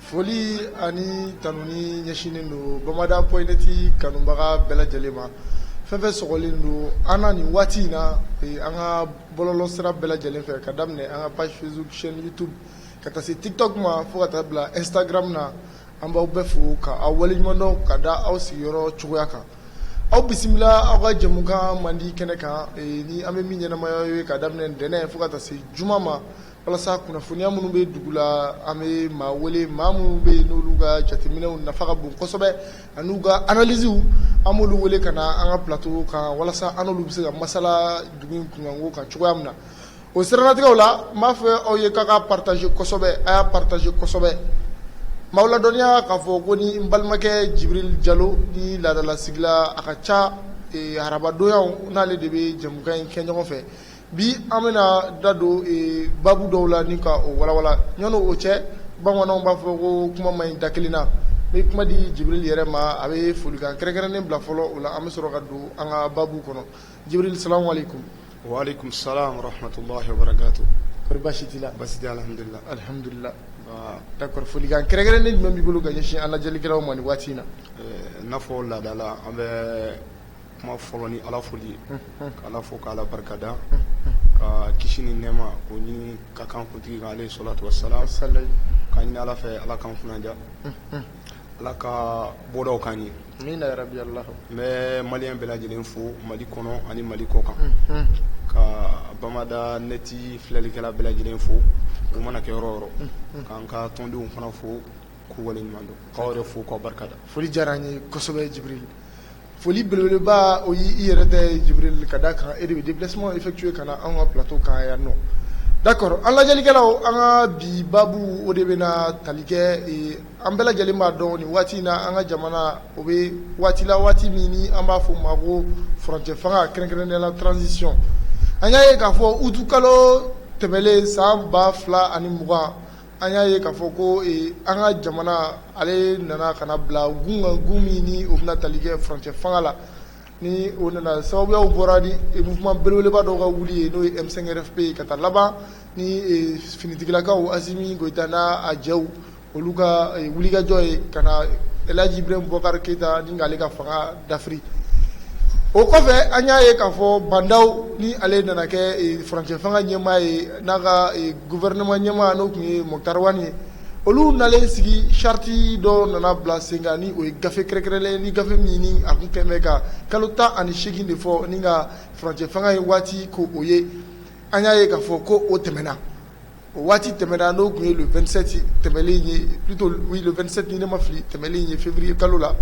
Foli ani tanuni ɲɛsinnen don Bamada point net kanubaga bɛɛ lajɛlen ma fɛn fɛn sɔgɔlen don an na nin waati in na an ka bɔlɔlɔ sira bɛɛ lajɛlen fɛ ka daminɛ an ka page Facebook chaîne YouTube ka taa se TikTok ma fo ka taa bila Instagram na an b'aw bɛɛ fo ka aw waleɲumandɔn ka da aw sigiyɔrɔ cogoya kan aw bisimila aw ka jɛmukan mandi kɛnɛ kan ni an bɛ min ɲɛnamaya ye ka daminɛ ntɛnɛn fo ka taa se juma ma walasa kunnafoniya minnu bɛ dugu la an bɛ maa wele maa minnu bɛ yen n'olu ka jateminɛw nafa ka bon kosɛbɛ an'u ka analyses an b'olu wele ka na an ka plateau kan walasa an n'olu bɛ se ka masala dugu in kunkanko kan cogoya min na o siranatigɛw la n b'a fɔ aw ye k'a k'a partager kosɛbɛ a y'a partager kosɛbɛ n b'aw ladɔnniya k'a fɔ ko ni n balimakɛ Jibirili Jalo ni laadalasigila a ka ca eh, arabadonyaw n'ale de bɛ jɛmukan in kɛ ɲɔgɔn fɛ bi an bɛna da don baabu dɔw la ni ka o walawala ɲɔgɔn cɛ bamananw b'a fɔ ko kuma man ɲi da kelen na n bɛ kuma di Jibirili yɛrɛ ma a bɛ folikan kɛrɛnkɛrɛnnen bila fɔlɔ o la an bɛ sɔrɔ ka don an ka baabu kɔnɔ Jibirili salamu alaikum wa alaikum salam wa rahmatullahi wa barakatuh kɔri baasi t'i la baasi tɛ alihamdulila d'accord folikan kɛrɛnkɛrɛnnen jumɛn b'i bolo ka ɲɛsin an lajɛlikɛlaw ma nin waati in na i n'a fɔ laada la an bɛ kuma fɔlɔ ni ala foli ye k' ala fo k' ala barikada ka kisi ni nɛɛma k'o ɲini k'a k'an kuntigi kan alayhi salatu wasalam k'a ɲini ala fɛ ala k'an kunnandiya ala ka bɔdaw k'an ye n bɛ maliyɛn bɛɛ lajɛlen fo mali kɔnɔ ani mali kɔ kan ka bamada neti filɛlikɛla bɛɛ lajɛlen fo u mana kɛ yɔrɔ o yɔrɔ k'an ka tɔndenw fana fo k'u waleɲumandɔn k'aw yɛrɛ fo k'aw barikada foli diyara an ye kosɛbɛ Jibirili Foli belebeleba o y' i yɛrɛ tɛ Jibirili ka d'a kan e de bɛ déplacement effectuer ka na an ka plateau kan yan nɔ d'accord an lajɛlikɛlaw an ka bi baabu o de bɛna tali kɛ an bɛɛ lajɛlen b'a dɔn nin waati in na an ka jamana o bɛ waati la waati min ni an b'a fɔ o ma ko furancɛ fanga kɛrɛnkɛrɛnnenya la transition an y'a ye k'a fɔ utu kalo tɛmɛlen san ba fila ani mugan An y'a ye k'a fɔ ko an ka jamana ale nana ka na bila gun kan gun min ni o bɛna tali kɛ furancɛ fanga la ni o nana sababuyaw bɔra ni mouvement belebeleba dɔw ka wuli ye n'o ye M5 RFP ye ka taa laban ni finitigilakaw Asimi Goyita n' a jɛw olu ka wulikajɔ ye ka na alaji Ibrahim Bubakari Keyita ni k'ale ka fanga dafiri o kɔfɛ an y'a ye k'a fɔ Ba Ndaw ni ale nana kɛ furancɛ fanga ɲɛmaa ye n'a ka gouvernement ɲɛmaa n'o tun ye Moctar Ouane ye, olu nalen sigi charte dɔ nana bila sen kan ni o ye gafe kɛrɛnkɛrɛnnen ni gafe min ni a tun kɛlen bɛ ka kalo 18 de fɔ ni ka furancɛ fanga ye waati ko o ye, an y'a ye k'a fɔ ko o tɛmɛna, o waati tɛmɛna n'o tun ye le 27 tɛmɛnen ye plutôt oui le 27 ni ne ma fili tɛmɛnen ye février kalo la,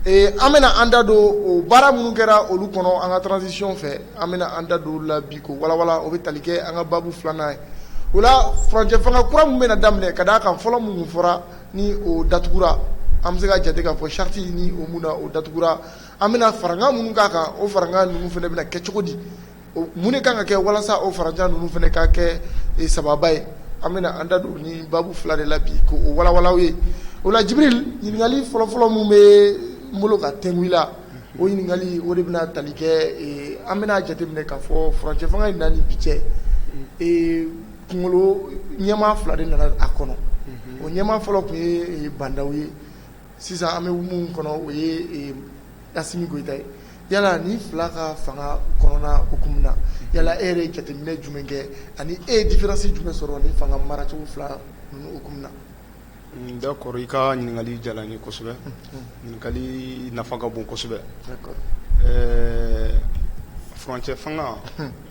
ee an bɛna an da don o baara minnu kɛra olu kɔnɔ an ka transition fɛ an bɛna an da don la bi k'o walawala o bɛ tali kɛ an ka baabu filanan ye o la furancɛ fanga kura min bɛna daminɛ ka d'a kan fɔlɔ minnu fɔra ni o datugura an bɛ se ka jate k'a fɔ charte ni o min na o datugura an bɛna farankan minnu k'a kan o farankan ninnu fana bɛna kɛ cogo di mun de kan ka kɛ walasa o farankan ninnu fana ka kɛ sababa ye an bɛna an da don ni baabu fila de la bi ko o walawala ye o la Jibril ɲininkali fɔlɔfɔlɔ min bɛ n bolo ka t'e la o ɲininkali o de bɛna tali kɛ an bɛna jateminɛ k'a fɔ furancɛ fanga in na ni bi cɛ kunkolo ɲɛmaa fila de nana a kɔnɔ o ɲɛmaa fɔlɔ tun ye bandaw ye sisan an bɛ min kɔnɔ o ye Assimi Goita ye yala ni fila ka fanga kɔnɔna hukumu na yala e yɛrɛ ye jateminɛ jumɛn kɛ ani e ye différence jumɛn sɔrɔ ni fanga maracogo fila ninnu hukumu na D'accord i ka ɲininkali diyara n ye kosɛbɛ ɲininkali nafa ka bon kosɛbɛ furancɛ fanga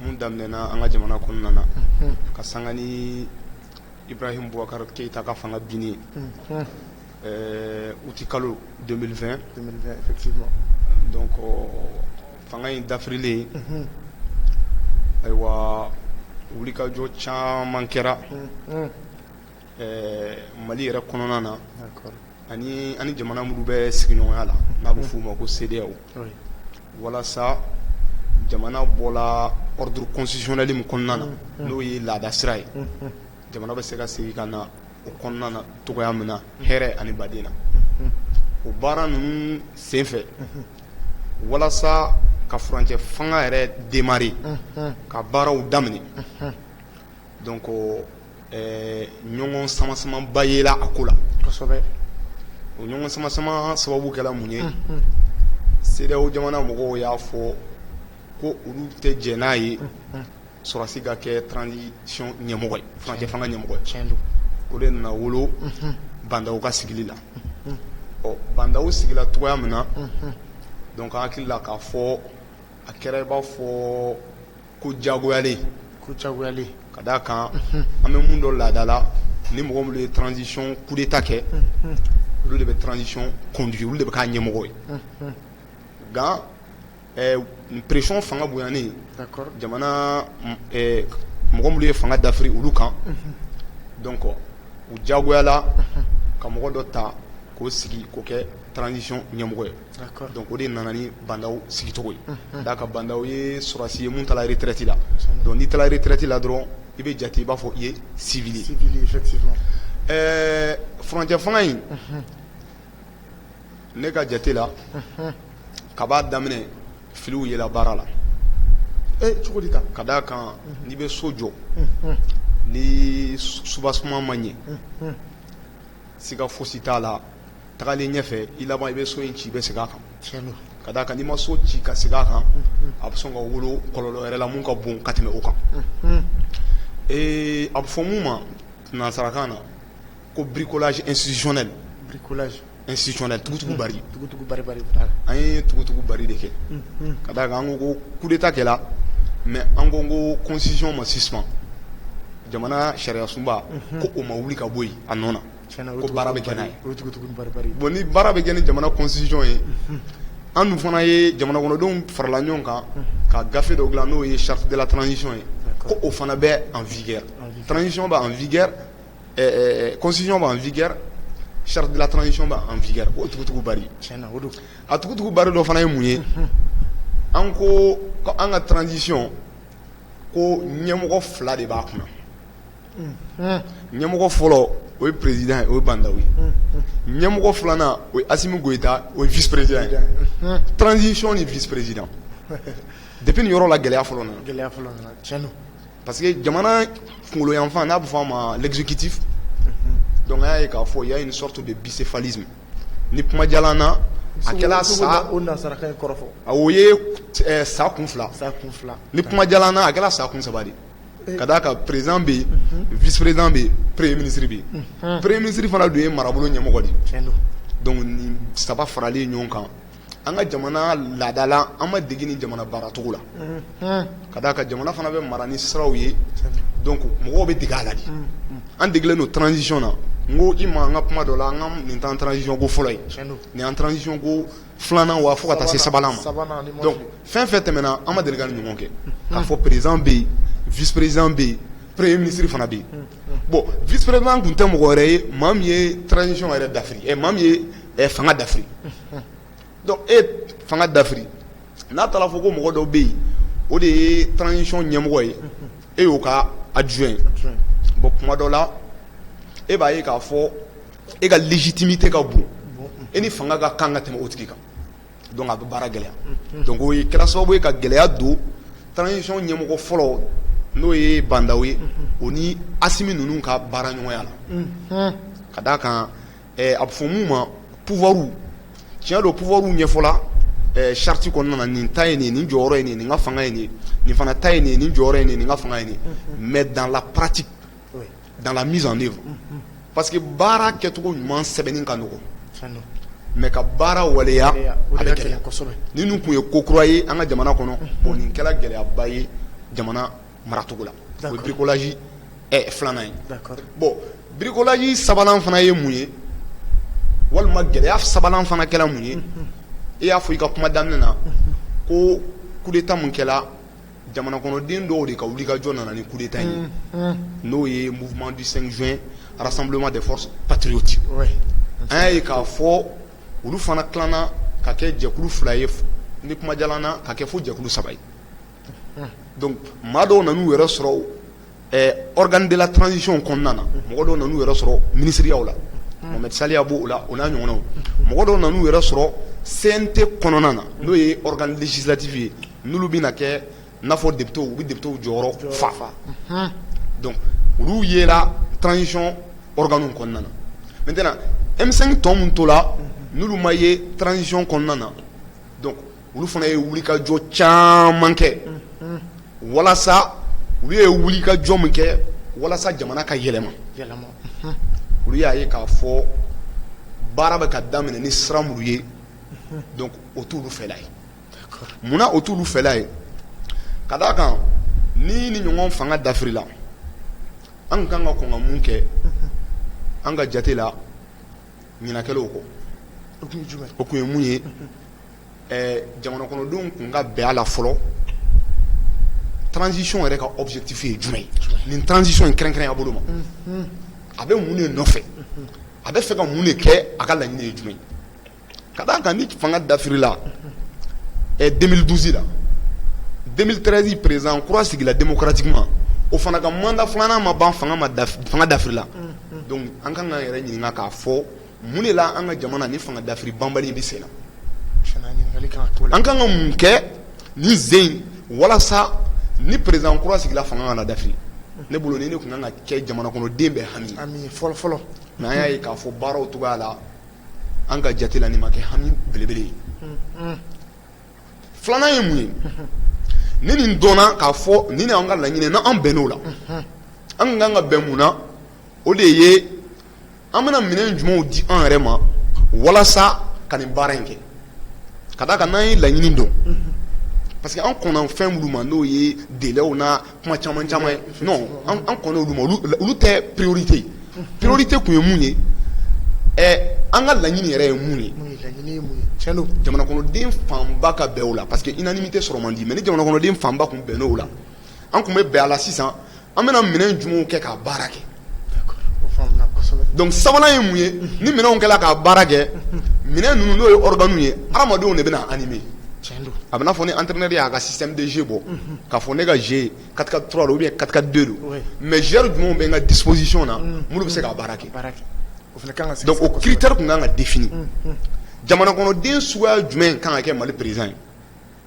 min daminɛna an ka jamana kɔnɔna na ka sanga ni Ibrahim Boubacar Keita ka fanga binni août kalo 2020 donc fanga in dafirilen ayiwa wulikajɔ caman kɛra Ɛɛ mali yɛrɛ kɔnɔna na ani ani jamana minnu bɛ sigiɲɔgɔnya la n'a bɛ f'u ma ko CEDEAO walasa jamana bɔra ordre constitutionnel min kɔnɔna na n'o ye laada sira ye jamana bɛ se ka segin ka na o kɔnɔna na cogoya min na hɛrɛ ani baden na o baara ninnu senfɛ walasa ka furancɛ fanga yɛrɛ démarrer ka baaraw daminɛ donc ɛɛ ɲɔgɔn sama sama ba yela a ko la, kosɛbɛ, o ɲɔgɔn sama sama sababu kɛra mun ye, unhun, CEDEAO jamana mɔgɔw y'a fɔ ko olu tɛ jɛn n'a ye sɔrɔdasi ka kɛ transition ɲɛmɔgɔ ye, furancɛ fanga ɲɛmɔgɔ, tiɲɛ don, o de nana wolo bandaw ka sigili la, unhun, ɔ bandaw sigila cogoya min na, unhun, donc an hakili la k'a fɔ a kɛra i b'a fɔ ko jagoyalen ko jagoyalen ka d'a kan an bɛ mun dɔn laada la ni mɔgɔ minnu ye transition coup d'Etat kɛ olu de bɛ transition conduit olu de bɛ k'a ɲɛmɔgɔ ye nka pression fanga bonyanen jamana mɔgɔ minnu ye fanga dafiri olu kan donc u jagoyala ka mɔgɔ dɔ ta k'o sigi k'o kɛ transition ɲɛmɔgɔ ye, d'accord, donc o de nana ni Ba Ndaw sigicogo ye, unhun, ka d'a kan Ba Ndaw ye sɔrɔdasi ye min taara retraite la donc n'i taara retraite la dɔrɔn i bɛ jate i b'a fɔ i ye civil ye, civil ye effectivement, ɛɛ furancɛ fanga in, unhun, ne ka jate la, unhun, kab'a daminɛ filiw yera baara la, e cogo di tan? ka d'a kan n'i bɛ so jɔ, unhun, ni soubassement ma ɲɛ, unhun siga fosi t'a la tagalen ɲɛfɛ i laban i bɛ so in ci i bɛ segin a kan tiɲɛ don ka d'a kan n'i ma so ci ka segin a kan a bɛ sɔn ka wolo kɔlɔlɔ wɛrɛ la mun ka bon ka tɛmɛ o kan ee a bɛ fɔ mun ma nansarakan na ko bricolage institutionnel bricolage institutionnel tugutugu bari tugutugu bari bari an ye tugutugu bari de kɛ ka d'a kan an ko ko coup d'état kɛra mais an ko ko constitution ma suspend jamana sariyasunba ko o ma wuli ka bɔ yen a nɔ na tiɲɛna olu ko tun baara bɛ bɛ kɛ n'a ye olu tun bɛ tugun ni baribari ye bon ni baara bɛ kɛ ni jamana constitution ye an dun fana ye jamanakɔnɔdenw farala ɲɔgɔn kan ka gafe dɔ dilan n'o ye charte de la transition ye ko D'accord. o fana bɛ en vigueur En vigueur. transition bɛ en vigueur ɛɛ, ɛɛ, constitution bɛ en vigueur charte de la transition bɛ en vigueur o tugutugu bari tiɲɛna o don a tugutugu bari dɔ fana ye mun ye an ko ko an ka transition ko ɲɛmɔgɔ fila de b'a kunna ɲɛmɔgɔ fɔlɔ o ye perezd ye o ye banda ye ɲɛmɔgɔ filanan o asimi gta o ye vperez tranzcɔn ni vperez de yɔrɔ la gɛlɛya fɔlɔ gɛlɛya parce que jamana kungoyanfan n'a bɛ fɔ a ma kiti dɔnkuya ye k'a fɔ y ya ni sɔrɔtu de bi fali ni kumaja na a sa a ye sa kun fila ni kumaja a kɛra sa kun saba ka d'a kan président bɛ yen, unhun, vice président bɛ yen, premier ministre bɛ yen, unhun, premier ministre fana dun ye marabolo ɲɛmɔgɔ de ye, tiɲɛ don, donc nin saba faralen ɲɔgɔn kan an ka jamana laada la an ma dege nin jamana baaracogo la, unhun, ka d'a kan jamana fana bɛ mara ni siraw ye, tiɲɛ don, donc mɔgɔw bɛ dege a la de, unhun, an degelen don transition na n ko i ma n ka kuma dɔ la n ko nin t'an ka transition ko fɔlɔ ye, tiɲɛ don, nin y'an ka transition ko filanan wa fo ka taa se sabanan ma donc fɛn fɛn tɛmɛna an ma deli ka nin ɲɔgɔn kɛ k'a fɔ président bɛ yen vice président bɛ yen premier ministre fana bɛ yen bon vice président tun tɛ mɔgɔ wɛrɛ ye maa min ye transition yɛrɛ dafiri ɛ maa min ye fanga dafiri donc e ye fanga dafiri n'a taara fɔ ko mɔgɔ dɔ bɛ yen o de ye transition ɲɛmɔgɔ ye e y'o ka adjoint ye bon tuma dɔ la e b'a ye k'a fɔ e ka légitimité ka bon e ni fanga ka kan ka tɛmɛ o tigi kan a bɛ baara gɛlɛya donc o kɛra sababu ye ka gɛlɛya don transition ɲɛmɔgɔ fɔlɔ n'o ye Bah N'Daw ye o ni Assimi ninnu ka baara ɲɔgɔnya la ka d' a kan a bɛ fɔ min ma pouvoir tiɲɛ don pouvoir ɲɛfɔla charte kɔnɔna na nin ta ye nin ye nin jɔyɔrɔ ye nin ye nin ka fanga ye nin ye nin fana ta ye nin ye nin jɔyɔrɔ ye nin ye nin ka fanga ye nin ye mais dans la pratique dans la mise en œuvre parce que baara kɛcogo ɲuman sɛbɛnni ka nɔgɔ mais ka baara waleya a bɛ gɛlɛya ninnu tun ye ko kura ye an ka jamana kɔnɔ bon nin kɛra gɛlɛyaba ye jamana maracogo la o ye bricolage filanan ye bon bricolage sabanan fana ye mun ye walima gɛlɛya sabanan fana kɛra mun ye i y'a fɔ i ka kuma daminɛ na ko coup d'état min kɛla jamana kɔnɔden dɔw de ka wulikajɔ nana ni coup d'état ye n'o ye mouvement du cinq juin rassemblement des forces patriotiques an y'a ye k'a fɔ olu fana tilanna ka kɛ jɛkulu fila ye ni kumajalan na ka kɛ fo jɛkulu saba ye donc maa dɔw nan'u yɛrɛ sɔrɔ dela tcɔn kɔnɔna na mɔgɔ dɔw nana'u yɛrɛ sɔrɔ miniw la mɛ saliya b' la u n'a ɲɔgɔnw mɔgɔ dɔw nana'u yɛrɛ sɔrɔ sen tɛ kɔnɔna na n'o yedizlatibi ye n bɛ kɛfɔ de u bɛ de jɔyɔrɔ fafa olu ye tcɔn kɔnɔna na n tɛna emisɛn tɔn min to la n ma ye tcɔn kɔnɔna na olu fana ye wulikajɔ caman kɛ walasa olu ye wulikajɔ min kɛ walasa jamana ka yɛlɛma olu y'a ye k'a fɔ baara bɛ ka daminɛ ni sira minnu ye donc o t'olu fɛla ye munna o t'olu fɛla ye ka d' a kan ni nin ɲɔgɔn fanga dafirila an ka kan ka kɔn ka mun kɛ an ka jate la ɲina kɛla o kɔ o tun ye mun ye jamana kɔnɔdenw tun ka bɛn a la fɔlɔ transition yɛrɛ ka objectif ye jumɛn ye nin transition in kɛrɛnkɛrɛnya bolo ma a bɛ mun de nɔfɛ a bɛ fɛ ka mun de kɛ a ka laɲini ye jumɛn ka d'a kan ni fanga dafirila deux mille douze la deux mille treize président kura sigila démocratiquement o fana ka mandat filanan ma ban fanga dafirila donc an kan k'an yɛrɛ ɲininka k'a fɔ Mun de la an ka jamana ni fanga dafiri banbali bɛ sen na an ka kan ka mun kɛ nin sen walasa ni président kura sigila fanga kana dafiri ne bolo nin kun kan ka kɛ jamana kɔnɔden bɛɛ hami fɔlɔ fɔlɔ mais an y'a ye k'a fɔ baaraw cogoya la an ka jate la nin ma kɛ hami belebele ye filanan ye mun ye ni nin dɔnna k'a fɔ ni an ka laɲini n'an bɛnn'o la an ka kan ka bɛn mun na o de ye an bɛna minɛn jumɛnw di an yɛrɛ ma walasa ka nin baara in kɛ ka d'a kan n'an ye laɲini dɔn parce que an kɔnna fɛn minnu ma n'o ye délaiw na kuma caman caman ye an kɔnna olu ma olu tɛ priorité priorité kun ye mun ye an ka laɲini yɛrɛ ye mun ye jamana kɔnɔden fanba ka bɛn o la parce que unanimité sɔrɔ man di mais ni jamana kɔnɔden fanba kun bɛnn'o la an kun bɛ bɛn a la sisan an bɛna minɛn jumɛnw kɛ k'a baara kɛ donc sabanan ye mun ye ni minɛnw kɛla k'a baara kɛ minɛn ninnu n'o ye organes ye adamadenw de bɛna animer a bɛ n'a fɔ ni entraîneur y'a ka système de jeu bɔ k'a fɔ ne ka jeu quatre quatre trois ou bien quatre quatre deux don mais joueurs jumɛnw bɛ n ka disposition na minnu bɛ se k'a baara kɛ o critère kun kan ka définir jamana kɔnɔden suguya jumɛn kan ka kɛ Mali président ye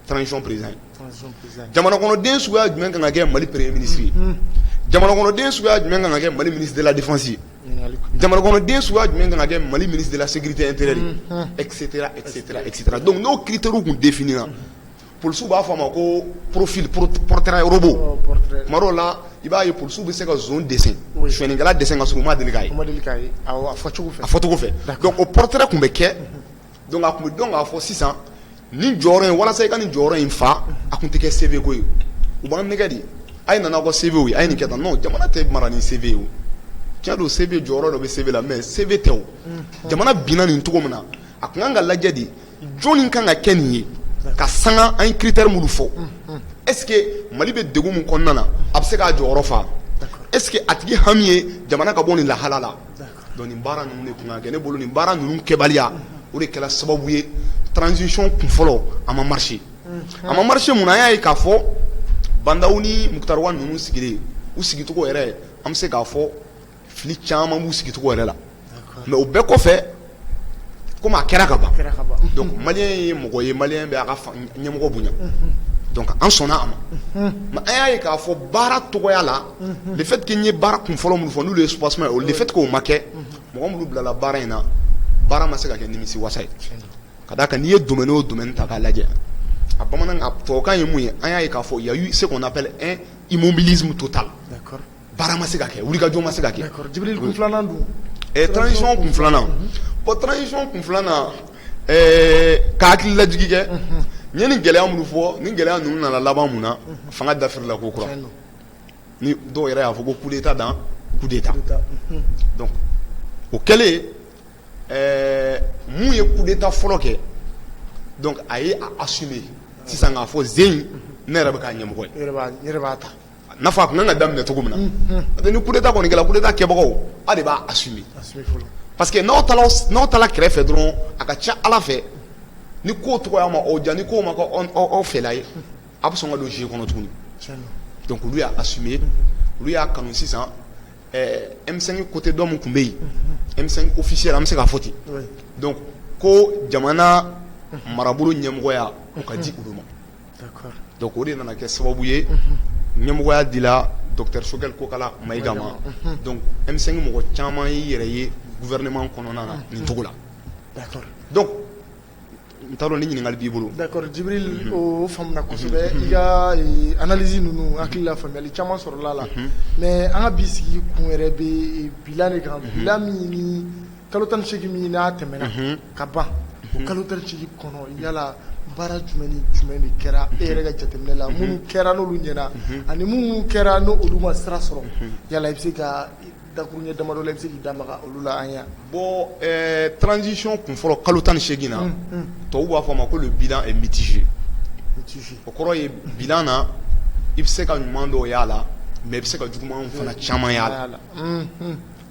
transition président ye, transition président ye, jamana kɔnɔden suguya jumɛn kan ka kɛ Mali premier ministre ye, unhun, jamana kɔnɔden suguya jumɛn kan ka kɛ Mali ministre de la défense ye, jamana kɔnɔden suguya jumɛn kan ka kɛ Mali ministre de la sécurité intérieure ye, unhun, etc etc etc donc n'o critères kun définina polisiw b'a fɔ a ma ko profil pro- portrait robot ɔ, portrait tuma dɔw la i b'a ye polisiw bɛ se ka zon dessin Oui. sonyɛnikɛla dessin ka sɔrɔ u ma deli k'a ye ma deli k'a ye, awɔ, a fɔcogo fɛ, a fɔcogo fɛ D'accord. donc o portrait kun bɛ kɛ Donc a kun bɛ dɔn k'a fɔ sisan nin jɔyɔrɔ in walasa i ka nin jɔyɔrɔ in fa a kun tɛ kɛ CV ko ye u b'an nɛgɛn de a ye na n'aw ka CV ye a ye nin kɛ tan non jamana tɛ mara ni CV ye tiɲɛ don CV jɔyɔrɔ dɔ bɛ CV la mais CV tɛ jamana binna nin cogo min na a kun kan ka lajɛ de jɔnni kan ka kɛ nin ye ka sanga an ye critère minnu fɔ est-ce que Mali bɛ degun min kɔnɔna na a bɛ se k'a jɔyɔrɔ fa est-ce que a tigi hami ye jamana ka bɔ nin lahala la Donc nin baara ninnu de kun kan ka kɛ ne bolo nin baara ninnu kɛbaliya o de kɛra sababu ye transition kun fɔlɔ a ma marché a ma marché mun na an y'a ye k'a fɔ Ba Ndaw ni Mukutari Wani ninnu sigilen u sigicogo yɛrɛ an bɛ se k'a fɔ fili caman b'u sigicogo yɛrɛ la mais o bɛɛ kɔfɛ komi a kɛra ka ban malien ye mɔgɔ ye malien b'a ka ɲɛmɔgɔ bonya an sɔnna a ma an y'a ye k'a fɔ baara cogoya la le fait que n ye baara kun fɔlɔ minnu fɔ n'olu ye soubassement ye le fait que o ma kɛ mɔgɔ minnu bilala baara in na baara ma se ka kɛ nimisi wasa ye ka d'a kan n'i ye domaine o domaine ta k'a lajɛ a bamanan a tubabukan ye mun ye an y'a ye k'a fɔ il y a eu ce qu'on appelle un immobilisme total baara ma se ka kɛ wulikajɔ ma se ka kɛ transition kun filanan bon transition kun filanan ka hakili lajigin kɛ n ye nin gɛlɛya minnu fɔ nin gɛlɛya ninnu nana laban mun na fanga dafirila ko kura ni dɔw yɛrɛ y'a fɔ ko coup d'Etat dans coup d'Etat donc o kɛlen ɛɛ mun ye coup d'Etat fɔlɔ kɛ donc a ye a assumer sisan k'a fɔ jeu in ne yɛrɛ bɛ k'a ɲɛmɔgɔ ye, n yɛrɛ b'a ta, a n'a fɔ a tun ka kan ka daminɛ cogo min na, unhun, n'o tɛ ni coup d'Etat kɔni kɛra coup d'Etat kɛbagaw aw de b'a assumer parce que n'aw taara kɛrɛfɛ dɔrɔn a ka ca Ala fɛ ni ko tɔgɔya ma aw diya ni ko ma kɛ aw fɛla ye a bɛ sɔn ka don jeu kɔnɔ tuguni donc olu y'a assumer olu y'a kanu sisan ɛɛ M5 côté dɔ min tun bɛ yen M5 officiel an bɛ se k'a fɔ ten donc ko jamana marabolo ɲɛmɔgɔya o ka di olu ma donc o de nana kɛ sababu ye ɲɛmɔgɔya dila docteur Choguel Kokala Mayiga ma donc M5 mɔgɔ caman y'i yɛrɛ ye gouvernement kɔnɔna na nin cogo la donc N t'a dɔn ni ɲininkali b'i bolo d'accord Djibril o faamuna kosɛbɛ i ka analyse ninnu hakili la faamuyali caman sɔrɔla a la mais an ka bi sigi kun yɛrɛ bɛ bilan de kan bilan min ni kalo tan ni seegin min n'a tɛmɛna ka ban o kalo tan ni seegin kɔnɔ yalala baara jumɛn ni jumɛn de kɛra e yɛrɛ ka jateminɛ la minnu kɛra n'olu ɲɛna ani minnu kɛra n'olu ma sira sɔrɔ yala i bɛ se ka dakuruɲɛ damadɔ la i bɛ se k'i da maga olu la an ye bon ɛɛ transition kun fɔlɔ kalo tan ni seegin na tubabu b'a fɔ a ma ko le bilan est mitigé o kɔrɔ ye bilan na i bɛ se ka ɲuman dɔw y'a la mais i bɛ se ka juguman fana caman y'a la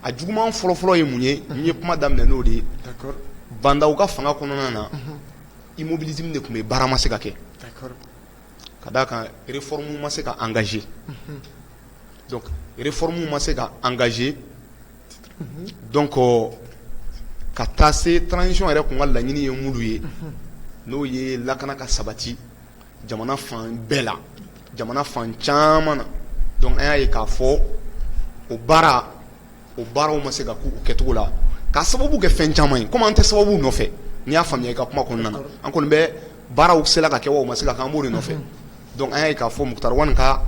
a juguman fɔlɔfɔlɔ ye mun ye n ye kuma daminɛ n'o de ye Bah N'Daw ka fanga kɔnɔna na immobilisme de tun bɛ yen baara ma se ka kɛ ka d'a kan réforme ma se ka engager unhun, donc réforme ma se ka engager unhun, donc ka taa se transition yɛrɛ tun ka laɲini ye minnu ye, unhun, n'o ye lakana ka sabati jamana fan bɛɛ la, jamana fan caman na donc an y'a ye k'a fɔ o baara o baaraw ma se ka k'u kɛcogo la k'a sababu kɛ fɛn caman ye comme an tɛ sababu nɔfɛ n'i y'a faamuya i ka kuma kɔnɔna na an kɔni bɛ baaraw sela ka kɛ wa u ma se ka kɛ an b'o de nɔfɛ donc an y'a ye k'a fɔ Mukutari Wan ka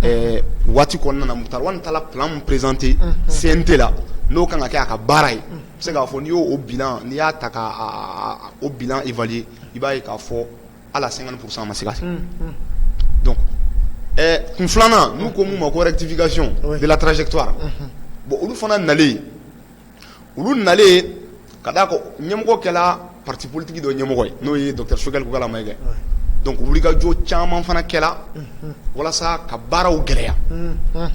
ɛɛ waati kɔnɔna na Mukutari Wan taara plan min présenter CNT la n'o ka kan ka kɛ a ka baara ye n bɛ se k'a fɔ n'i y'o bilan n'i y'a ta ka o bilan évaluer i b'a ye k'a fɔ hali a 50 pour cent ma se ka kɛ donc ɛɛ kun filanan n'u ko min ma ko rectification de la trajectoire bon olu fana nalen olu nalen ka da kan ɲɛmɔgɔ kɛla parti politique dɔ ɲɛmɔgɔ ye n'o ye docteur Choguel Kokalla Maïga ye donc wulikajɔ caman fana kɛla walasa ka baaraw gɛlɛya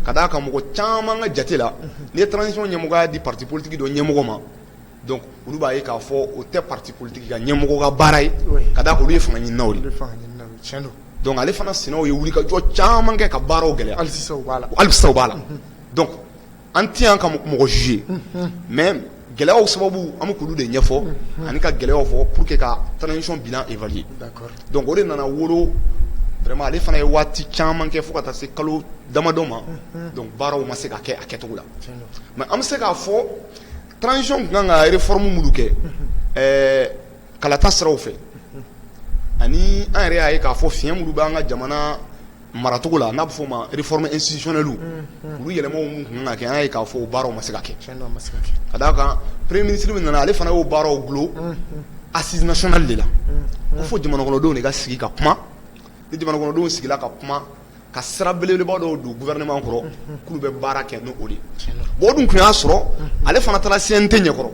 ka da kan mɔgɔ caman ka jate la n'i ye transition ɲɛmɔgɔya di parti politique dɔ ɲɛmɔgɔ ma donc olu b'a ye k'a fɔ o tɛ parti politique ka ɲɛmɔgɔ ka baara ye ka da kan olu ye fanga ɲininaw de ye donc ale fana sinaw ye wulikajɔ caman kɛ ka baaraw gɛlɛya hali sisan u b'a la donc An tɛ yan ka mɔgɔ juger mais gɛlɛyaw sababu an bɛ k'olu de ɲɛfɔ ani ka gɛlɛyaw fɔ pour que ka transition bilan évaluer donc o de nana wolo vraiment ale fana ye waati caman kɛ fo ka taa se kalo damadɔ ma donc baaraw ma se ka kɛ a kɛcogo la mais an bɛ se k'a fɔ transition tun kan ka réforme minnu kɛ kalata siraw fɛ ani an yɛrɛ y'a ye k'a fɔ fiɲɛ minnu bɛ an ka jamana maracogo la n'a bɛ f'o ma réforme institutionnelle olu yɛlɛmaw minnu tun kan ka kɛ an y'a ye k'a fɔ o baaraw ma se ka kɛ, tiɲɛ don a ma se ka kɛ, ka d'a kan premier ministre min nana ale fana y'o baaraw dulon assise nationale de la ko fo jamanakɔnɔdenw de ka sigi ka kuma ni jamanakɔnɔdenw sigila ka kuma ka sira belebeleba dɔw don gouvernement kɔrɔ k'olu bɛ baara kɛ n'o de ye, tiɲɛ don, bon o dun tun y'a sɔrɔ ale fana taara CNT ɲɛkɔrɔ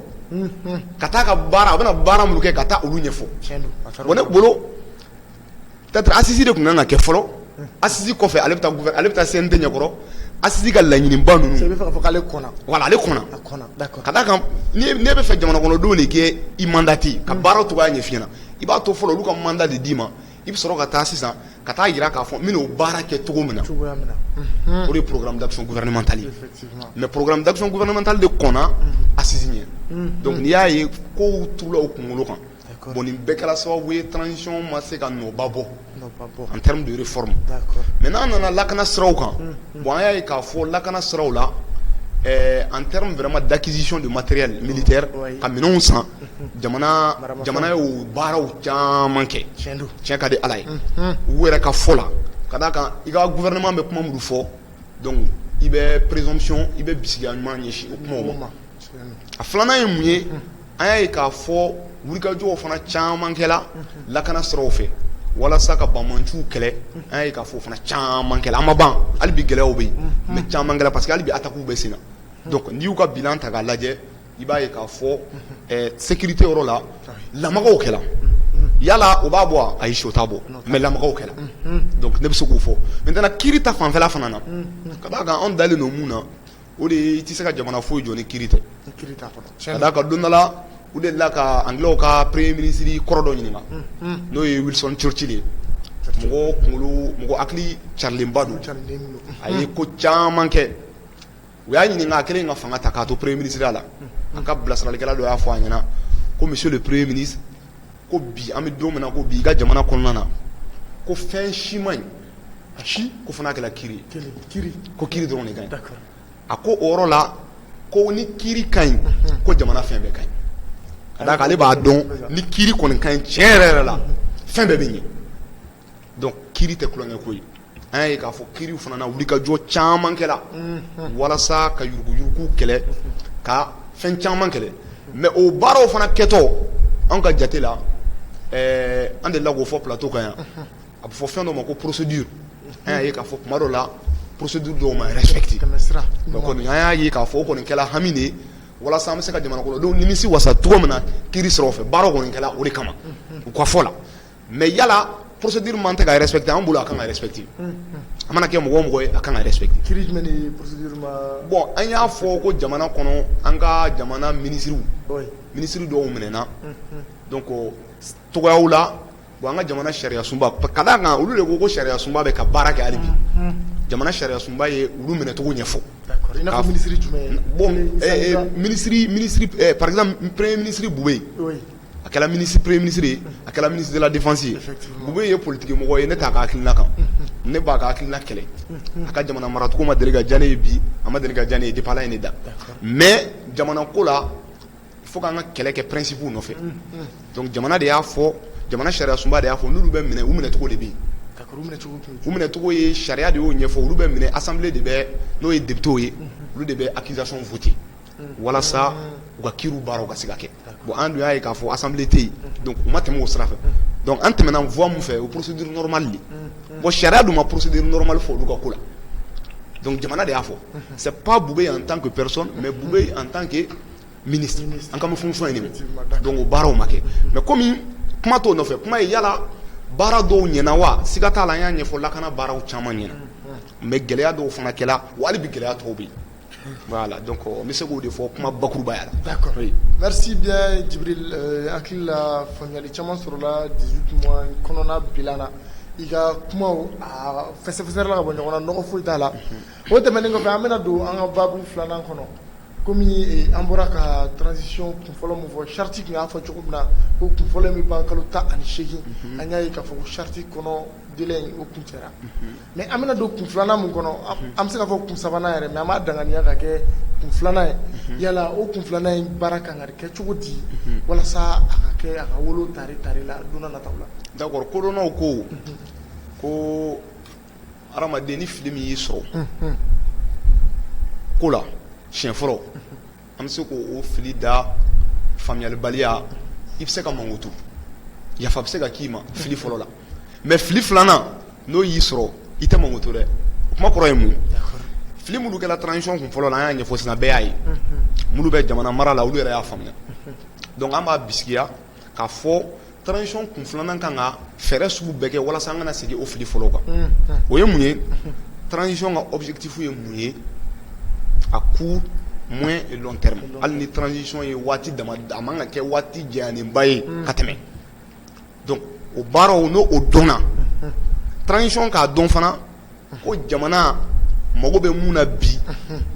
ka taa a ka baara a bɛna baara minnu kɛ ka taa olu ɲɛfɔ, tiɲɛ don, bon ne bolo asisi de tun kan ka kɛ fɔlɔ asi kɔfɛ ale ale bɛ taa sen tɛ ɲɛkɔrɔ asi ka laɲini ka bɛ fɛ jamanakɔrɔdenw de kɛ i manda ten ka baara tun b'a ɲɛfin i b'a to fɔlɔ olu ka manda de d'i ma i bɛ sɔrɔ ka taa sisan ka taa jira k'a fɔ n'o baara kɛ cogo min na o de pmanimentali mɛ pmanimentali de kɔnɔ asi ɲɛ dɔnku y'a ye ko tu kunkolo kan Bon nin bɛɛ kɛra sababu ye transition ma se ka nɔba bɔ en terme de réforme mais n'an nana lakana siraw kan bon an y'a ye k'a fɔ lakana siraw la ɛɛ en terme vraiment d'acquisition de matériel militaire ka minɛnw san jamana jamana y'o baaraw caman kɛ tiɲɛ ka di Ala ye u yɛrɛ ka fɔ la ka d'a kan i ka gouvernement bɛ kuma minnu fɔ donc i bɛ présomption i bɛ bisigiya ɲuman ɲɛsin o kumaw ma a filanan ye mun ye an y'a ye k'a fɔ wulikajɔw fana caman kɛra lakana siraw fɛ walasa ka banbaanciw kɛlɛ, unhun, an y'a ye k'a fɔ o fana caman kɛra, a ma ban hali bi gɛlɛyaw bɛ yen, unhun, mais caman kɛra parce que hali bi attaques bɛ senna donc n'i y'u ka bilan ta k'a lajɛ i b'a ye k'a fɔ ɛɛ sécurité yɔrɔ la lamagaw kɛra yala o b'a bɔ wa? Ayi si o t'a bɔ mais lamagaw kɛra donc ne bɛ se k'o fɔ maintenant kiri ta fanfɛla fana na ka d'a kan anw dalen don mun na o de ye i tɛ se ka jamana foyi jɔ ni kiri tɛ, ni kiri t'a kɔnɔ, tiɲɛ don, ka d'a kan don dɔ la u delila ka Anglais ka premier ministre kɔrɔ dɔ ɲininka, unhun, n'o ye Wilson Churchill ye, Churchill, mɔgɔ kunkolo, mɔgɔ hakili carilenba don, carilen don, a ye ko caman kɛ, u y'a ɲininka a kɛlen ka fanga ta k'a to premier ministre ya la, unhun, a ka bilasiralikɛla dɔ y'a fɔ a ɲɛ na ko monsieur le premier ministre ko bi an bɛ don min na ko bi i ka jamana kɔnɔna na ko fɛn si man ɲi a si ko fo n'a kɛra kiri ye ko kiri dɔrɔn de ka ɲi a ko o yɔrɔ la ko ni kiri ka ɲi ko jamana fɛn bɛɛ ka ɲi ka d'a kan ale b'a dɔn ni kiri kɔni ka ɲi tiɲɛ yɛrɛ yɛrɛ la fɛn bɛɛ bɛ ɲɛ donc kiri tɛ tulonkɛ ko ye an y'a ye k'a fɔ kiri fana na wulikajɔ caman kɛra walasa ka yuruguyurugu kɛlɛ ka fɛn caman kɛlɛ mais o baaraw fana kɛtɔ an ka jate la an delila k'o fɔ plateau kan yan a bɛ fɔ fɛn dɔ ma ko procédure an y'a ye k'a fɔ tuma dɔ la procédure dɔw ma respecter an y'a ye k'a fɔ o kɔni kɛla hami de ye walasa an bɛ se ka jamana kɔnɔdenw nimisi wasa cogo min na kiri siraw fɛ baara kɔni kɛla o de kama u ka fɔ la mais yala procédure normale tɛ ka respecter an bolo a ka kan ka respecter a mana kɛ mɔgɔ o mɔgɔ ye a ka kan ka respecter bon an y'a fɔ ko jamana kɔnɔ an ka jamana minisiriw minisiri dɔw minɛna donc cogoyaw la an ka jamana sariya sunba ka d'a kan olu de ko ko sariya sunba bɛ ka baara kɛ hali bi jamana sariya sunba ye olu minɛcogo ɲɛfɔ minisiri jumɛn minisiri premier minisiri Boubèye a kɛra premier ministre ye a kɛra ministre de la défense ye Boubèye ye politigimɔgɔ ye ne t'a ka hakilina kan ne b'a ka hakilina kɛlɛ a ka jamana maracogo ma deli ka diya ne ye bi a ma deli ka diya ne ye depuis Ala ye ne da mais jamana ko la fo k'an ka kɛlɛ kɛ principe nɔfɛ jamana de y'a fɔ jamana sariya sunba de y'a fɔ n'olu bɛ minɛ u minɛcogo de bɛ yen u minɛcogo ye sariya de y'o ɲɛfɔ olu bɛ minɛ assemblée de bɛ n'o ye députés ye olu de bɛ accusation voter walasa u ka kiri baara ka se ka kɛ bon an dun y'a ye k'a fɔ assemblée tɛ yen donc u ma tɛmɛ o sira fɛ donc an tɛmɛna fan min fɛ o procédure normale de bon sariya dun ma procédure normale fɔ olu ka ko la donc jamana de y'a fɔ c'est pas Boubèye en tant que personne mais Boubèye en tant que ministre an ka fonction ye nin donc o baaraw ma kɛ mais comme kuma t'o nɔfɛ kuma ye yala baara dɔw ɲɛna wa siga t'a la an y'a ɲɛfɔ lakana baaraw caman ɲɛna mais gɛlɛya dɔw fana kɛla wa hali bi gɛlɛya dɔw bɛ yen Voilà donc n bɛ se k'o de fɔ kuma bakurubaya la merci bien Djibril hakili la faamuyali caman sɔrɔla dix-huit mois kɔnɔna bilan na i ka kumaw a fɛsɛfɛsɛla ka bɔ ɲɔgɔn na nɔgɔ foyi t'a la o tɛmɛnen kɔfɛ an bɛna don an ka baabu filanan kɔnɔ kɔmi an bɔra ka transition kun fɔlɔ min fɔ charte tun y'a fɔ cogo min na ko kun fɔlɔ bɛ ban kalo tan ani seegin an y'a ye k'a fɔ ko charte kɔnɔ délai in o kuncɛra Mais an bɛna don kun filanan min kɔnɔ an bɛ se k'a fɔ kun sabanan yɛrɛ mais an b'a danganiya ka kɛ kun filanan ye yala o kun filanan in baara kan ka kɛ cogo di walasa a ka kɛ a ka wolo tari tari la don nataw la d'accord kodɔnnaw ko ko hadamaden ni fili min y'i sɔrɔ ko la siɲɛ fɔlɔ An bɛ se k'o fili da faamuyalibaliya i bɛ se ka makoto yafa bɛ se ka k'i ma fili fɔlɔ la mais fili filanan n'o y'i sɔrɔ i tɛ makoto dɛ o kuma kɔrɔ ye mun fili minnu kɛla transition kun fɔlɔ la an y'a ɲɛfɔ sisan bɛɛ y'a ye minnu bɛ jamana mara la olu yɛrɛ y'a faamuya donc an b'a bisigiya K'a fɔ transition kun filanan kan ka fɛɛrɛ sugu bɛɛ kɛ walasa an kana segin o fili fɔlɔ kan, unhun, o ye mun ye transition ka objectif ye mun ye à court, moyen et long terme hali ni transition ye waati dama a man kan ka kɛ waati janyalenba ye ka tɛmɛ donc o baaraw n'o dɔnna transition k'a dɔn fana ko jamana mago bɛ mun na bi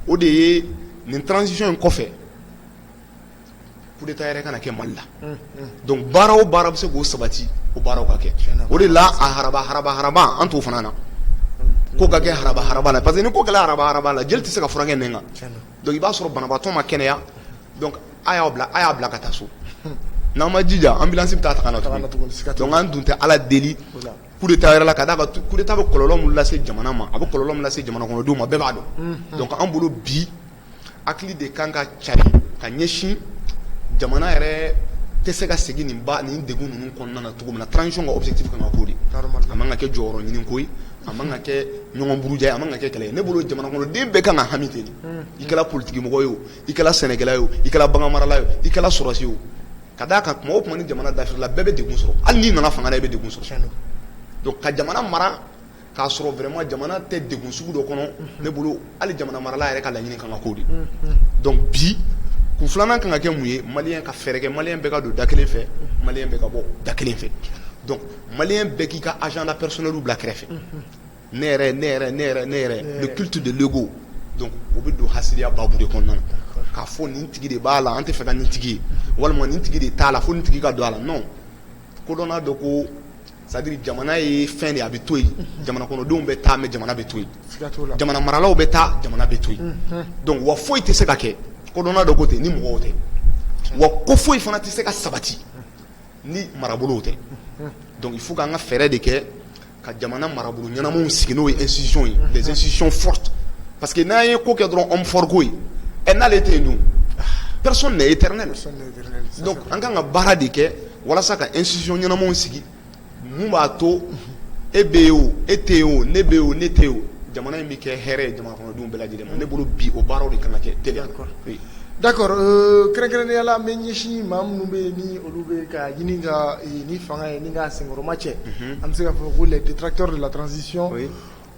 o de ye nin transition in kɔfɛ coup d'état yɛrɛ kana kɛ Mali la donc baara o baara bɛ se k'o sabati o baaraw ka kɛ o de la a haraba haraba haraba an t'o fana na ko ka kɛ haraba haraba la parce que ni ko kɛla haraba haraba la jeli tɛ se ka furakɛ nin kan donc i b'a sɔrɔ banabaatɔ ma kɛnɛya donc a y'a bila a y'a bila ka taa so n'an ma jija ambulance bɛ taa ta ka na tuguni donc an dun tɛ Ala deli coup d'état yɛrɛ la ka d'a kan coup d'état bɛ kɔlɔlɔ min lase jamana ma a bɛ kɔlɔlɔ min lase jamana kɔnɔdenw ma bɛɛ b'a dɔn donc an bolo bi hakili de kan ka cari ka ɲɛsin jamana yɛrɛ tɛ se ka segin nin baani degun ninnu kɔnɔna na cogo min na transition ka objectif kan ka k'o de a man ka kɛ jɔyɔrɔ ɲini ko a man ka kɛ ɲɔgɔn buruja ye a man ka kɛ kɛlɛ ne bolo jamana kɔnɔden bɛɛ kan ka hami ten i kɛra politigimɔgɔ ye i kɛra sɛnɛkɛla ye i kɛra baganmarala ye i kɛra sɔrɔdasi ye ka d'a kan tuma o tuma ni jamana dafirila bɛɛ bɛ degun sɔrɔ hali n'i nana fanga la i bɛ degun sɔrɔ ka jamana mara k'a sɔrɔ vraiment jamana tɛ degun sugu dɔ kɔnɔ ne bolo hali jamana marala yɛrɛ ka laɲini kan ka k'o de ye donc bi kun filanan kan ka kɛ mun ye maliyɛn ka fɛɛrɛ kɛ maliyɛn bɛɛ ka don da kelen fɛ maliyɛn bɛɛ ka bɔ da kelen fɛ donc maliyɛn bɛɛ k'i ka agenda personnel bila kɛrɛfɛ ne yɛrɛ ne yɛrɛ ne yɛrɛ ne yɛrɛ le culte de l'ego donc o bɛ don hasidiya baabu de kɔnɔna na k'a fɔ nin tigi de b'a la an tɛ fɛ ka nin tigi ye walima nin tigi de t'a la fo nin tigi ka don a la non kodɔnna dɔ ko c'est-à-dire jamana ye fɛn de a bɛ to yen jamanakɔnɔdenw bɛ taa mais jamana bɛ to yen jamana maralaw bɛ taa jamana bɛ to yen donc wa foyi tɛ se ka kɛ kodɔnna dɔ ko ten ni mɔgɔw tɛ wa ko foyi fana tɛ se ka sabati ni marabolow tɛ donc il faut an ka fɛɛrɛ de kɛ ka jamana marabolo ɲɛnamanw sigi n'o ye institutions ye des institutions fortes parce que n'an ye ko kɛ dɔrɔn homme fort ko ye ɛ n'ale tɛ yen dun personne n'est éternel donc an ka kan ka baara de kɛ walasa ka institutions ɲɛnamanw sigi mun b'a to e bɛ yen o e tɛ yen o ne bɛ yen o ne tɛ yen o jamana in bɛ kɛ hɛrɛ ye jamana bɛɛ lajɛlen ma ne bolo bi o baaraw de kan ka kɛ ten d'accord kɛrɛnkɛrɛnnenya la an bɛ ɲɛsin maa minnu bɛ yen ni olu bɛ ka ɲini ka ni fanga ye ni ka senkɔrɔma cɛ an bɛ se ka fɔ ko les détracteurs de la transition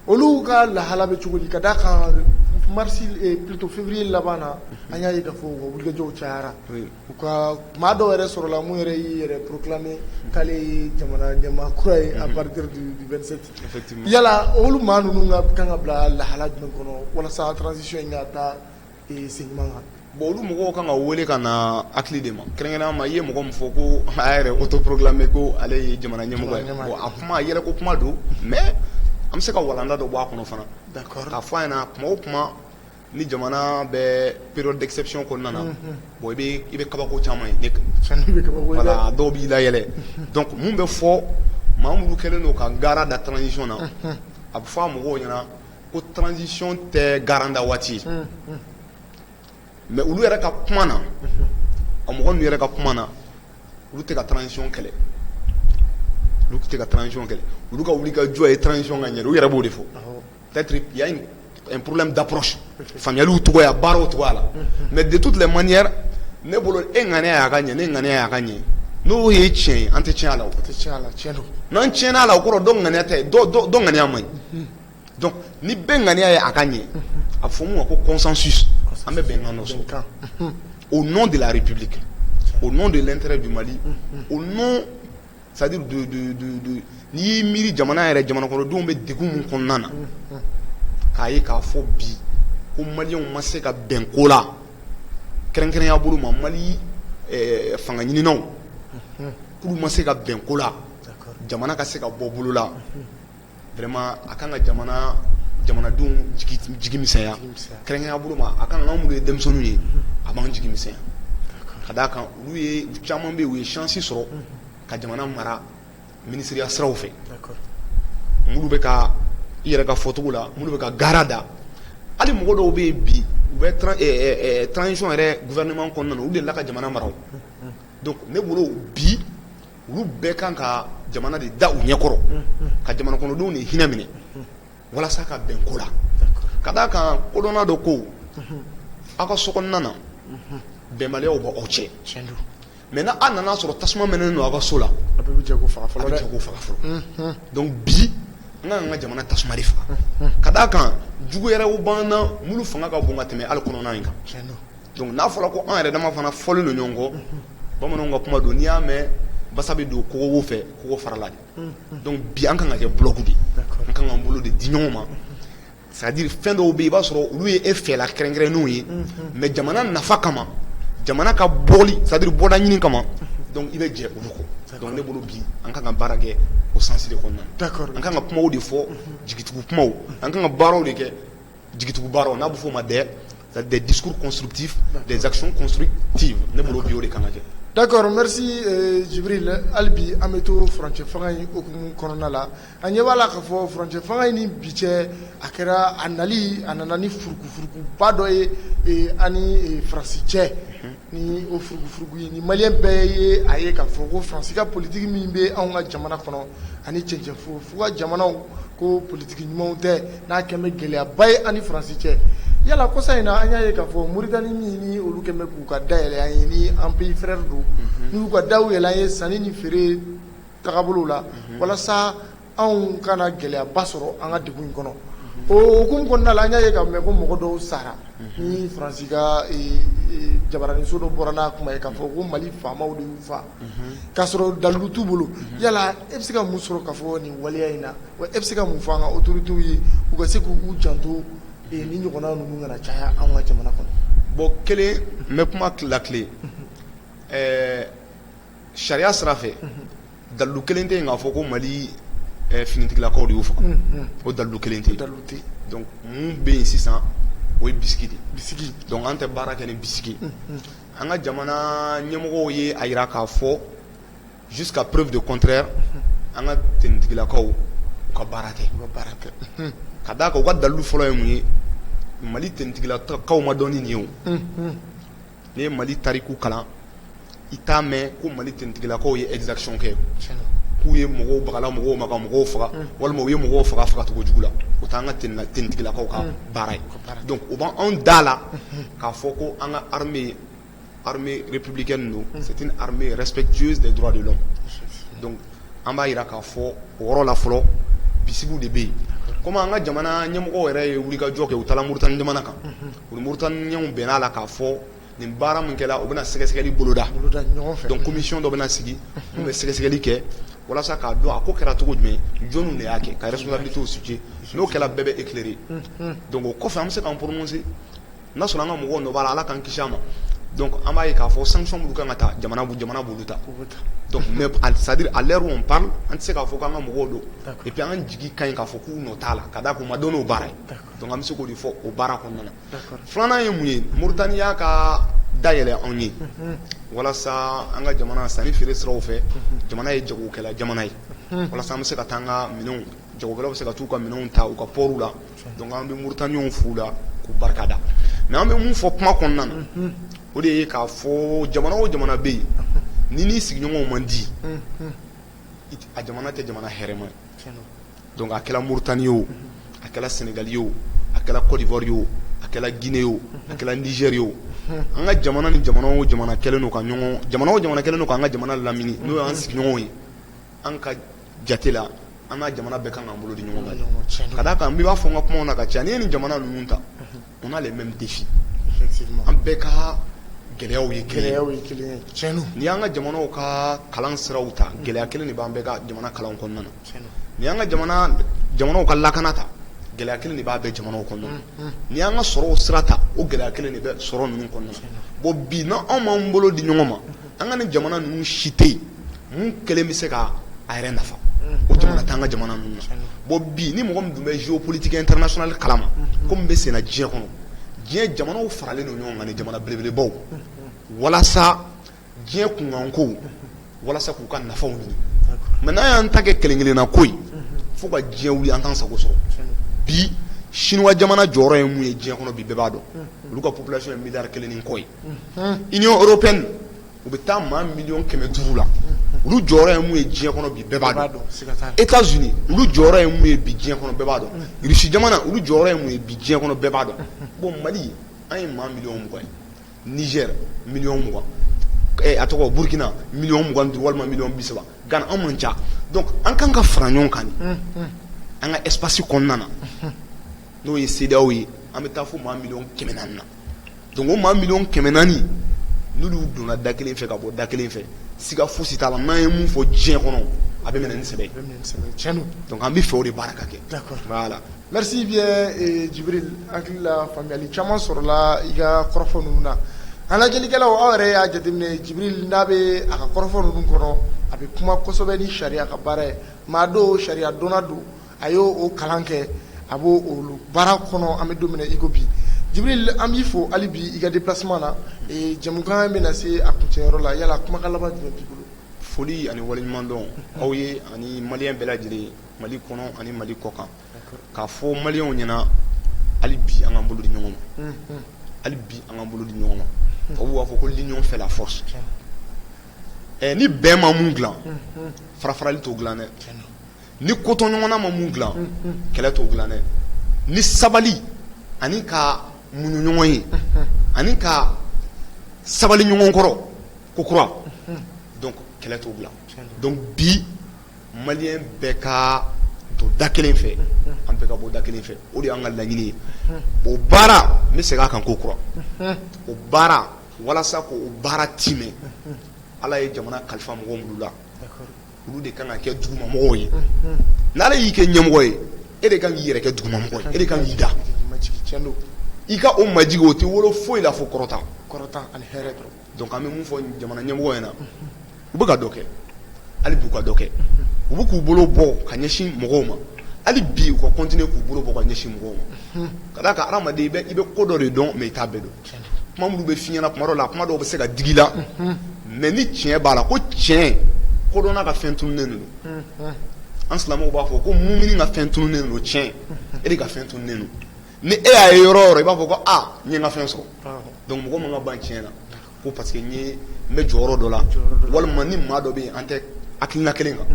olu ka lahala bɛ cogo di ka da kan mars plutôt février laban na an y'a ye k'a fɔ u ka wulikajɔw cayara u ka maa dɔw yɛrɛ sɔrɔla min yɛrɛ y'i yɛrɛ proclamer k'ale ye jamana ɲɛmaa kura ye à partir du vingt-sept yala olu maa ninnu ka kan ka bila lahala jumɛn kɔnɔ walasa transition in ka taa sen ɲuman kan bon olu mɔgɔw kan ka wele ka na hakili de ma kɛrɛnkɛrɛnya ma i ye mɔgɔ min fɔ ko a y'a yɛrɛ autoproclamer ko ale ye jamana ɲɛmɔgɔ ye a kuma a yɛlɛko kuma don mais an bɛ se ka walanda dɔ bɔ a kɔnɔ fana k'a fɔ a ɲɛna na kuma o kuma ni jamana bɛ période d'exception kɔnɔna na bon i i bɛ kabako caman ye dɔw b'i layɛlɛ mun bɛ fɔ maa minnu kɛlen don ka garan da transition na a bɛ fɔ a mɔgɔw ɲɛna ko transition tɛ garan da waati ye mais olu yɛrɛ ka kuma na a mɔgɔ ninnu yɛrɛ ka kuma na olu tɛ ka transition kɛlɛ olu tɛ ka transition kɛlɛ olu ka wulikajɔ ye transition ka ɲɛ u yɛrɛ b'o de fɔ Tari ya porola da pɔsi fayali tɔgɔya baaraw tɔgɔ a la mɛ de tu tile man ɲɛ ne bolo e ŋani y'a ka ɲɛ ne ŋani y'a ka ɲɛ n'o ye tiɲɛ ye an tɛ tiɲɛ la n'an tiɲɛna' la o kɔrɔ dɔn ŋani tɛ dɔn ŋaniya man ɲi ni bɛn ŋaniya ye a ka ɲɛ a fɔ ma ko kɔsansu an bɛ bɛn nɔ kan o n de larepbi kɛ o n de teri di mali o C'est-à-dire n'i y'i miiri jamana yɛrɛ jamanakɔnɔdenw bɛ degun min kɔnɔna na k'a ye k'a fɔ bi ko maliyɛnw ma se ka bɛn ko la kɛrɛnkɛrɛnya bolo ma mali fanga ɲinininaw k'olu ma se ka bɛn ko la jamana ka se ka bɔ bolo la vraiment a kan ka jamana jamanadenw jigi jigi misɛnya jigi misɛnya kɛrɛnkɛrɛnya bolo ma a kan ka anw minnu ye denmisɛnninw ye a b'an jigi misɛnya d'accord ka d'a kan olu ye caman bɛ yen u ye chance sɔrɔ ka jamana mara minisiriya siraw fɛ d'accord minnu bɛ ka i yɛrɛ ka fɔcogo la minnu bɛ ka garan da hali mɔgɔ dɔw bɛ yen bi u bɛ tran ɛɛ ɛɛ transition yɛrɛ gouvernement kɔnɔna na u delila ka jamana mara o donc ne bolo bi olu bɛɛ kan ka jamana de da u ɲɛkɔrɔ ka jamana kɔnɔdenw de hinɛ minɛ walasa ka bɛn ko la ka d' a kan kodɔnna dɔ ko aw ka sokɔnɔna na bɛnbaliyaw b' aw cɛ mais n' a nana sɔrɔ tasuma mɛnɛnen don aw ka so la a bɛ jɛ k' o faga fɔlɔ donc bi an ka kan ka jamana tasuma faga ka d' a kan jugu yɛrɛw b' an na minnu fanga ka bon ka tɛmɛ hali kɔnɔna in kan Donc n'a fɔra ko an yɛrɛ dama fana fɔlen don ɲɔgɔn kɔ bamananw ka kuma don n'i y'a mɛn basa bɛ don kogo fɛ kogo farala de donc bi an kan ka kɛ bloc de an kan k'an bolo de di ɲɔgɔn ma c'est-à-dire fɛn dɔw bɛ yen i b'a sɔrɔ olu ye e fɛla kɛrɛnkɛrɛnnenw ye mais jamana nafa kama jamana ka bɔ c'est-à-dire bɔda ɲini kama i bɛ jɛ olu kɔ donc ne bolo bi an kan ka baara kɛ o sens de kɔnɔ an ka kan ka kuma de fɔ jigitugu kuma an kan ka baaraw de kɛ jigitugu baaraw n'a bɛ f'o ma des des discours constructifs, des actions constructives ne bolo bi o de ka kan ka kɛ d'accord merci Jibril hali bi an bɛ to furancɛ fanga in hukumu kɔnɔna la an ɲɛ b'a la k'a fɔ furancɛ fanga in ni bi cɛ a kɛra a nali a nana ni furukufurukuba dɔ ye a ni Faransi cɛ ni o furugufurugu ye ni maliyɛn bɛɛ ye a ye k'a fɔ ko faransi ka politiki min bɛ anw ka jamana kɔnɔ ani cɛncɛn fo ka jamanaw ko politiki ɲumanw tɛ n'a kɛn bɛ gɛlɛyaba ye an ni faransi cɛ yala kɔsa in na an y'a ye k'a fɔ moritani min ni olu kɛn bɛ k'u ka da yɛlɛ an ye ni an pays frère don n'u y'u ka daw yɛlɛ an ye sanni ni feere tagabolow la walasa anw kana gɛlɛyaba sɔrɔ an ka degun in kɔnɔ o hukumu kɔnɔna la an y'a ye k'a mɛn ko mɔgɔ dɔw sara ni faransi ka jabaraninso dɔ bɔra n'a kuma ye k'a fɔ ko mali faamaw de y'u faa k'a sɔrɔ dalilu t'u bolo yala e bɛ se ka mun sɔrɔ k'a fɔ nin waleya in na e bɛ se ka mun fɔ an ka autorités ye u ka se k'u janto nin ɲɔgɔnna ninnu kana caya an ka jamana kɔnɔ bon kelen n bɛ kuma latilen Sariya sira fɛ dalilu kelen tɛ yen k'a fɔ ko mali finitigilakaw de y'u faa o dalilu kelen tɛ donc mun bɛ yen sisan o ye bisigi de ye donc an tɛ baara kɛ ni bisigi an ka jamana ɲɛmɔgɔw ye a jira k'a fɔ jusqu'à preuve de contraire an ka tenitigilakaw u ka baara kɛ ka d'a kan u ka dalilu fɔlɔ ye mun ye mali tenitigilakaw ma dɔn ni nin ye n'i ye Mali tariku kalan i t'a mɛn ko Mali tenitigilakaw ye exaction kɛ k'u ye mɔgɔw bagala mɔgɔw ma ka mɔgɔw faga walima u ye mɔgɔw faga fagacogo jugu la o t'an ka tenitigilakaw ka baara ye donc o b'anw d'a la k'a fɔ ko an ka armée armée républicaine don c'est une armée respectueuse des droits de l'homme donc an b'a jira k'a fɔ o yɔrɔ la fɔlɔ bisigiw de bɛ yen comme an ka jamana ɲɛmɔgɔw yɛrɛ ye wulikajɔ kɛ u taara Mauritanie jamana kan U ni Mauritaniens bɛnn'a la k'a fɔ nin baara min kɛra u bɛna sɛgɛsɛgɛli boloda commission dɔ bɛna sigi min bɛ sɛgɛsɛgɛli kɛ walasa k'a dɔn a ko kɛra cogo jumɛn jɔn de y'a kɛ ka responsabilité situer n'o kɛra bɛɛ bɛ éclairer donc o kɔfɛ an bɛ se k'an prononcer n'a sɔrɔ an ka mɔgɔw nɔ b'a la Ala k'an kisi a ma an b'a ye k'a fɔ sanction minnu kan ka ta jamana b'olu ta c'est-à-dire à l'heure où on parle an tɛ se k'a fɔ k'an ka mɔgɔw don et puis an jigi ka ɲi k'a fɔ k'u nɔ t'a la ka d'a kan u ma dɔn n'o baara ye Donc an bɛ se k'o de fɔ o baara kɔnɔna na filanan ye mun ye Mauritanie y'a ka da yɛlɛ anw ye walasa an ka jamana sanni feere siraw fɛ jamana ye jagokɛla jamana ye walasa an bɛ se ka taa an ka minɛnw jagokɛlaw bɛ se ka taa u ka minɛnw ta u ka pɔriw la an bɛ Mauritaniens fo o la k'u barikada mais an bɛ mun fɔ kuma kɔnɔna na o de ye k'a fɔ jamana o jamana bɛ yen n'i n'i sigiɲɔgɔnw man di a jamana tɛ jamana hɛrɛma ye Donc a kɛra Mauritanie ye o a kɛra Sénégal ye o a kɛra Côte d'Ivoire ye o a kɛra Guinée ye o a kɛra Niger ye o an ka jamana ni jamana o jamana kɛlen don ka ɲɔgɔn jamana o jamana kɛlen don ka an ka jamana lamini n'o y'an sigiɲɔgɔn ye an ka jate la an n'a jamana bɛɛ kan k'an bolo di ɲɔgɔn ma ka d'a kan n b'a fɔ n ka kumaw na ka caya n'i ye nin jamana ninnu ta On a les mêmes défis an bɛɛ ka gɛlɛyaw ye kelen ye n'i y'an ka jamanaw ka kalan siraw ta gɛlɛya kelen de b'an bɛɛ ka jamana kalan kɔnɔna na n'i y'an ka jamanaw ka lakana ta gɛlɛya kelen de b'a bɛɛ jamanaw kɔnɔna na n'i y'an ka sɔrɔ sira ta o gɛlɛya kelen de bɛ sɔrɔ ninnu kɔnɔna na bon bi n'anw m'an bolo di ɲɔgɔn ma an ka nin jamana ninnu si tɛ yen kelen bɛ se ka a yɛrɛ nafa o jamana t'an ka jamana ninnu na bon bi ni mɔgɔ min tun bɛ géopolitique internationale kalama ko min bɛ senna diɲɛ kɔnɔ diɲɛ jamanaw faralen don ɲɔgɔn kan jamana belebelebaw walasa diɲɛ kunkanko walasa k'u ka nafaw ɲini mais n'an y'an ta kɛ kelen kelenna ko ye fo ka diɲɛ wuli an t'an sago sɔrɔ bi Chine jamana jɔyɔrɔ ye mun ye diɲɛ kɔnɔ bi bɛɛ b'a dɔn olu ka population ye miliyari kelen ni kɔ ye Union européenne u bɛ taa maa miliyɔn kɛmɛ duuru la olu jɔyɔrɔ ye mun ye diɲɛ kɔnɔ bi bɛɛ b'a dɔn États-Unis olu jɔyɔrɔ ye mun ye bi diɲɛ kɔnɔ bɛɛ b'a dɔn Russie jamana olu jɔyɔrɔ ye mun ye bi diɲɛ kɔnɔ bɛɛ b'a dɔn bon Mali an ye maa miliyɔn mugan ye Niger miliyɔn mugan a tɔgɔ Burkina miliyɔn mugan duuru walima miliyɔn bi saba Ghana an man ca donc an kan ka fara ɲɔgɔn kan an ka espace kɔnɔna na n'o ye CEDEAO ye an bɛ taa fo maa miliyɔn kɛmɛ naani na donc o maa miliyɔn kɛmɛ naani n'olu donna da kelen fɛ ka bɔ da kelen fɛ siga fosi t'a la n'a ye min fɔ diɲɛ kɔnɔ a bɛ minɛ ni sɛbɛ ye an bɛ fɛ o de baara ka kɛ voilà merci bien Djibril hakili la faamuyali caman sɔrɔla i ka kɔrɔfɔ ninnu na an lajɛlikɛlaw aw yɛrɛ y'a jateminɛ Djibril n'a bɛ a ka kɔrɔfɔ ninnu kɔnɔ a bɛ kuma kosɛbɛ ni sariya ka baara ye maa don sariya dɔnna don a y' o kalan kɛ a b'o olu baara kɔnɔ an bɛ don min na i ko bi Jibril an b'i fo hali bi i ka déplacement na jamukan bɛ na se a kuncɛyɔrɔ la yala kumakan laban jumɛn b'i bolo foli ani waliɲumandɔn aw ye ani maliyɛn bɛɛ lajɛlen mali kɔnɔ ani mali kɔkan k'a fɔ maliyɛnw ɲɛna hali bi an k'an bolo di ɲɔgɔn ma hali bi an k'an bolo di ɲɔgɔn ma tubabuw b'a fɔ ko l'union fait la force ni bɛn ma mun dilan farafarali t'o dilan dɛ ni kotɔɲɔgɔnna ma mun dilan kɛlɛ t'o dilan dɛ ni sabali ani ka muɲu ɲɔgɔn ye ani ka sabali ɲɔgɔn kɔrɔ ko kura donc kɛlɛ t'o dilan donc bi maliyɛn bɛɛ ka don da kelen fɛ an bɛɛ ka bɔ da kelen fɛ o de y'an ka laɲini ye o baara n bɛ segin a kan ko kura o baara walasa k'o baara timɛ ala ye jamana kalifa mɔgɔ minnu la olu de kan ka kɛ dugumamɔgɔw ye n'ala y'i kɛ ɲɛmɔgɔ ye e de kan k'i yɛrɛ kɛ dugumamɔgɔ ye e de kan k'i da i ka o majigi o tɛ wolo foyi la fo kɔrɔta ani hɛrɛ dɔrɔn donc an bɛ min fɔ jamana ɲɛmɔgɔw ɲɛna u bɛ ka dɔ kɛ hali b'u ka dɔ kɛ u bɛ k'u bolo bɔ ka ɲɛsin mɔgɔw ma hali bi u ka continuer k'u bolo bɔ ka ɲɛsin mɔgɔw ma ka d'a kan adamaden i bɛ ko dɔ de dɔn mais i t'a bɛɛ dɔn Kuma minnu bɛ f'i ɲɛna tuma dɔw la kuma dɔw bɛ se ka digi i la mais ni tiɲɛ b'a la ko tiɲɛ kodɔnna ka fɛn tununnen don an silamɛw b'a fɔ ko mumini ka fɛn tununnen don tiɲɛ e de ka fɛn tununnen don ni e y'a ye yɔrɔ o yɔrɔ i b'a fɔ ko n ye n ka fɛn sɔrɔ donc mɔgɔ man ka ban tiɲɛ na ko parce que n bɛ jɔyɔrɔ dɔ la walima ni maa dɔ bɛ yen an tɛ hakilina kelen kan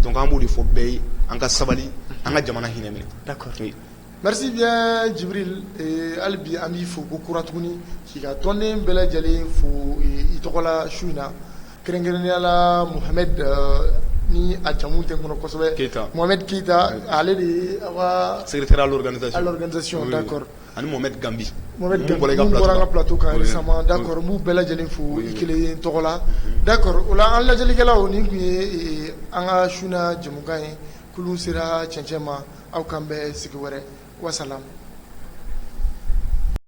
donc an b'o de fɔ bɛɛ ye an ka sabali an ka jamana hinɛ minɛ Merci bien Jibril hali bi an b'i fo ko kura tuguni k'i ka tɔnden bɛɛ lajɛlen fo i tɔgɔ la su in na kɛrɛnkɛrɛnnenya la Mohamed ni a jamu tɛ n kɔnɔ kosɛbɛ keyita Mohamed keyita ale de ye aw ka secrétaire à l'organisation d'accord ani Mohamed Gambi min bɔra an ka plateau kan récemment d'accord n b'u bɛɛ lajɛlen fo i kelen tɔgɔ la d'accord o la an lajɛlikɛlaw nin tun ye an ka su na jamukan ye kulu sera cɛncɛn ma aw k'an bɛn sigi wɛrɛ wasalamu.